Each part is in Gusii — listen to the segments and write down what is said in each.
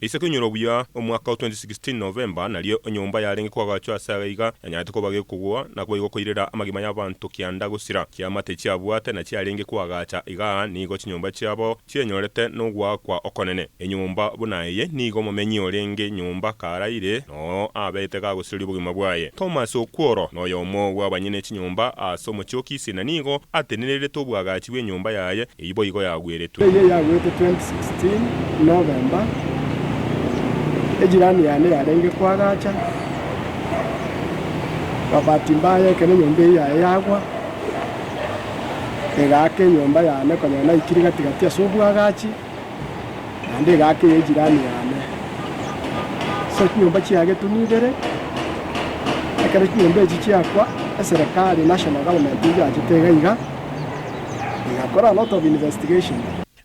Isiko inyora obuya omwaka o 2016 November nario enyomba yarenge koagachwa ase aye iga yanyarete koba gekogwa na koba igokoirera amagima y'abanto kianda gosira. Chiamate chiabwate na chiarenge koagacha iga nigo chinyomba chiabo chienyorete nogoakwa okonene. Enyomba buna eye nigo omomenyi orenge nyomba karaire noo abeete gagosiroria obogima bwaye. Thomas Okworo noyomo bw'abanyene chinyomba ase omochie o Kisii na nigo atenenerete obwagachi bw'enyomba yaye. Eyio boigo yagweretwe. Eyio yagwete 2016 November, ejirani yane yarenge koagacha, babati mbaya ekero enyomba eyio yaye yagwa, egaaka enyomba yane konyora naikire gati gati ase obwagachi, naende egaaka eye jirani yane. So chinyomba chiagetuni ibere, ekero chinyomba echi chiakwa, eserekari, national government, egachete iga iga.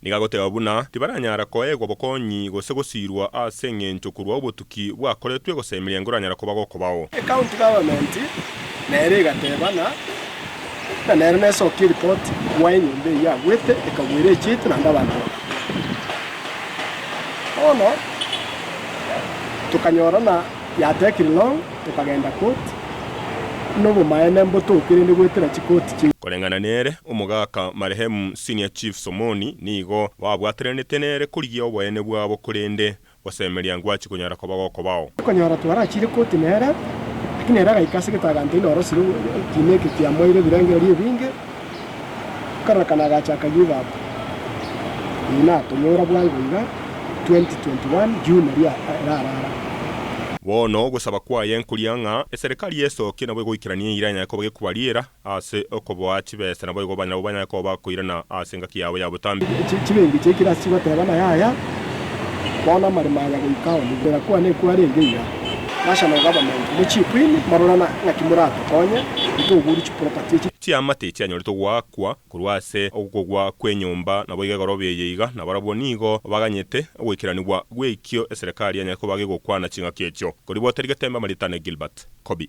Niga goteba buna tibaranyara koegwa bokonyi gose gosiirwa ase engencho korwa obotuki bwakoretwe gose emeryango eranyara koba gokobao. Ecounty government nere egateba na na nere nesokia eripoti gwa enyomba eyio agwete ekagwera echieti naende abanto bakakua. Bono tokanyora na. Yatekire long, tokagenda koti, na obomaene mbotoke rende goetera chikoti chiaito. Koreng'ana nere, omogaka marehemu Senior Chief Somoni nigo babwataranete nere korigia oboene bwabo korende gosemeria ngwachi konyara koba gokobao. Okonyora twarachiire koti nere, lakini ere agaika ase gete aganteina orosire ekiina eke kiamoeire ebirengererio ebinge. Akarora kana agache akayia obaba. Eyi natonyora bwango iga 2021 June eria erarara. Bono ogosaba kwaye nkoria ng'a eserekari esokie nabo egoikeranie eira enyaye koba gekobariera ase okoboa chibesa naboigo abana nabo banyaye koba bakoirana ase engaki yabo ya botambe. Chibingi chiaikire ase chigoteba na yaya, bono amaremo aya goika ao nigo erakwane kwarenge iga. Nasha nogaba mantu, mochie kwini morore ng'aki moratokonye, intwe oguru chibesa. Chiamate echi chianyorete goakwa korwa ase okogwa kw'enyomba, naboigo egoro beye iga, na barabwo nigo baganyete ogoikeranigwa gw'ekio eserekari enyare koba gegokwana ching'aki echio. Koribwatari getembe amarieta ne Gilbert Coby.